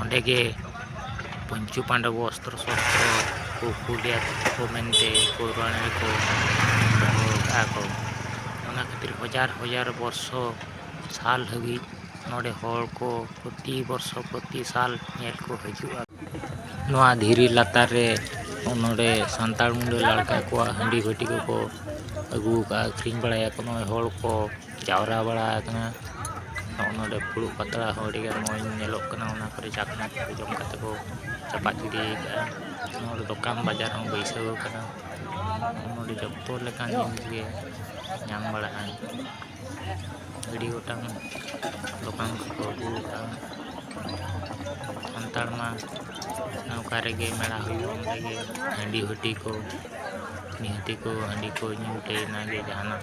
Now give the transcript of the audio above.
ᱚᱸᱰᱮ ᱜᱮ ᱯᱚᱧᱪᱩ ᱯᱟᱱᱰᱚᱵ ᱚᱥᱛᱨᱚ ᱥᱚᱥᱛᱨᱚ ᱠᱚ ᱠᱩᱞ ᱞᱮᱫ ᱠᱚ ᱢᱮᱱᱛᱮ ᱯᱩᱨᱟᱱ ᱨᱮᱠᱚ ᱫᱚᱦᱚ ᱟᱠᱟᱫᱼᱟ ᱠᱚ ᱚᱱᱟ ᱠᱷᱟᱹᱛᱤᱨ ᱦᱟᱡᱟᱨ ᱦᱟᱡᱟᱨ ᱵᱚᱨᱥᱚ ᱥᱟᱞ ᱦᱟᱹᱵᱤᱡ ᱱᱚᱰᱮ ᱦᱚᱲ ᱠᱚ ᱯᱨᱚᱛᱤ ᱵᱚᱨᱥᱚ ᱯᱨᱚᱛᱤ ᱥᱟᱞ ᱧᱮᱞ ᱠᱚ ᱦᱤᱡᱩᱜᱼᱟ ᱱᱚᱣᱟ ᱫᱷᱤᱨᱤ ᱞᱟᱛᱟᱨ ᱨᱮ ᱱᱚᱰᱮ ᱥᱟᱱᱛᱟᱲ ᱢᱩᱰᱟᱹ ᱞᱟᱲᱠᱟ ᱠᱚᱣᱟᱜ ᱦᱟᱺᱰᱤ ᱵᱷᱟᱹᱴᱤ ᱠᱚᱠᱚ ᱟᱹᱜᱩ ᱟᱠᱟᱫᱼᱟ ᱟᱹᱠᱷᱨᱤᱧ ᱵᱟᱲᱟᱭᱟᱠᱚ ᱱᱚᱜᱼᱚᱭ ᱦᱚᱲ ᱠᱚ ᱡᱟᱣᱨᱟ ᱵᱟᱲᱟ ᱟᱠᱟᱱᱟ ᱱᱚᱜᱼᱚ ᱱᱚᱰᱮ ᱯᱷᱩᱲᱩᱜ ᱯᱟᱛᱲᱟ ᱦᱚᱸ ᱟᱹᱰᱤ ᱜᱟᱱ ᱢᱚᱡᱽ ᱧᱮᱞᱚᱜ ᱠᱟᱱᱟ ᱚᱱᱟ ᱠᱚᱨᱮ ᱪᱟᱠᱷᱱᱟ ᱠᱚ ᱡᱚᱢ ᱠᱟᱛᱮ ᱠᱚ ᱪᱟᱯᱟᱫ ᱜᱤᱰᱤ ᱟᱠᱟᱫᱼᱟ ᱱᱚᱰᱮ ᱫᱚᱠᱟᱱ ᱵᱟᱡᱟᱨ ᱦᱚᱸ ᱵᱟᱹᱭᱥᱟᱹᱣ ᱟᱠᱟᱱᱟ ᱱᱚᱰᱮ ᱡᱚᱛᱚ ᱞᱮᱠᱟᱱ ᱡᱤᱱᱤᱥ ᱜᱮ ᱧᱟᱢ ᱵᱟᱲᱟᱜᱼᱟ ᱟᱹᱰᱤ ᱜᱚᱴᱟᱝ ᱫᱚᱠᱟᱱ ᱠᱚᱠᱚ ᱟᱹᱜᱩ ᱟᱠᱟᱫᱼᱟ ᱥᱟᱱᱛᱟᱲ ᱢᱟ ᱚᱠᱟ ᱨᱮᱜᱮ ᱢᱮᱞᱟ ᱦᱩᱭᱩᱜ ᱚᱸᱰᱮ ᱜᱮ ᱦᱟᱺᱰᱤ ᱵᱷᱟᱹᱴᱤ ᱠᱚ ᱱᱤᱦᱟᱹᱛᱤ ᱠᱚ ᱦᱟᱺᱰᱤ ᱠᱚ ᱧᱩ ᱛᱮ ᱚᱱᱟᱜᱮ ᱡᱟᱦᱟᱱᱟᱜ